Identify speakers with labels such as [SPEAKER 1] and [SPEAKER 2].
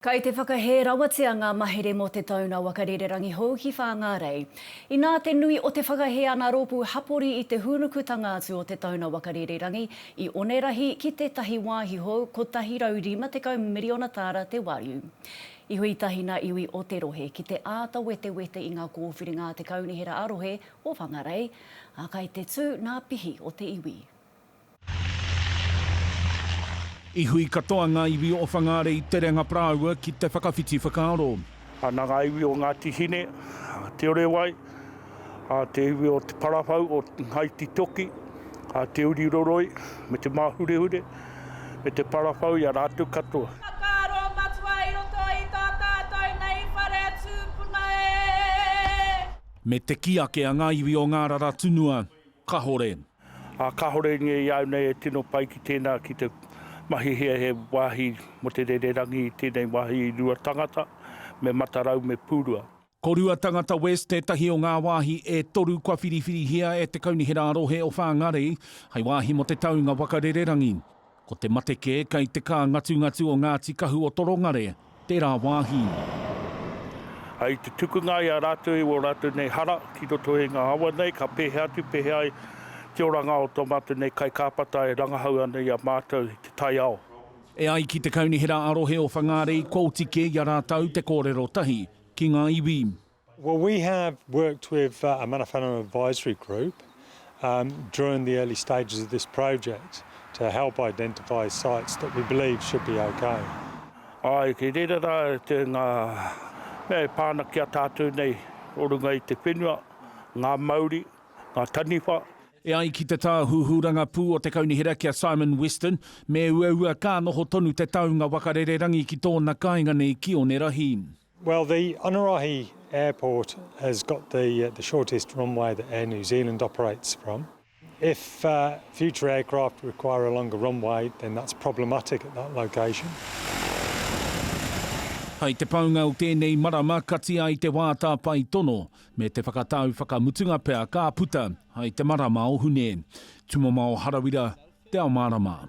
[SPEAKER 1] Kei te whakahē rawatia ngā mahere mō te taunga waka rererangi hou ki Whāngārei. Inā te nui o te whakahē ana rōpū hapori i te hūnukutanga atu o te taunga waka rererangi i Onerahi ki tētahi wāhi hou 150 miriona tāra te wariu. I hui tahi ngā iwi o te rohe ki te āta wetewete i ngā kōwhiringa a te Kaunihera ā-Rohe o Whangarei, ā, kai te tū ngā pihi o te iwi.
[SPEAKER 2] I hui katoa ngā iwi o Whangāre i te renga parāoa ki te whakawhiti whakaaro. Ana ngā iwi
[SPEAKER 3] o Ngāti Hine, Te Orewai, te iwi o Te Parawhau, o Ngāiti Toki, Te Uri Roroi, me Te Māhurehure, me Te Parawhau i a rātou katoa. Whakaaro matua
[SPEAKER 4] i roto i tā tātou nei whare tūpuna e. Me te kī
[SPEAKER 2] ake a ngā iwi o Ngārara tunua, Kahore. Ā, kāore
[SPEAKER 3] nge i au nei e tino pai ki tēnā ki te mahi hea he wāhi mō te rererangi i tēnei wāhi i rua tangata, me Matarau me Pūrua. Ko Rua Tangata
[SPEAKER 2] West tētahi o ngā wāhi e toru kua whiriwhirihia e te Kaunihera a-Rohe o Whāngārei hei wāhi mō te taunga waka rererangi. Ko te mate kē kei te kā ngatungatu o Ngāti Kahu o Torongare tērā wāhi.
[SPEAKER 3] Hei te tukunga i a rātou i wō rātou nei hara ki roto i ngā awa nei, ka pēhea atu, pēhea ai te oranga o tō mātou nei kaikāpata e rangahau ana i a mātou i te taiao. E ai ki te
[SPEAKER 2] Kaunihera a rohe o Whangārei kua oti kē i a rātou te kōrero tahi ki ngā iwi. Well we
[SPEAKER 5] have worked with a Mana Whanau advisory group during the early stages of this project to help identify sites that we believe should be okay. Ae, kei
[SPEAKER 3] reira ra te nga mea e pa ana ki a tatou nei o runga i te whenua, nga mauri, nga taniwha. E ai ki te
[SPEAKER 2] Tāhuhu Rangapū o te Kaunihera ki a Simon Weston, me uaua ka noho tonu te taunga waka rererangi ki tōna kāinga nei ki Onerahi. Well the
[SPEAKER 5] Onerahi airport has got the the shortest runway that Air New Zealand operates from. If future aircraft require a longer runway then that's problematic at that location.
[SPEAKER 2] Hai te paunga o tēnei marama kati ai te wā tāpae tono me te whakatau whakamutunga pea ka puta hai te marama o Hune. Tumamao Harawira, Te Ao Mārama.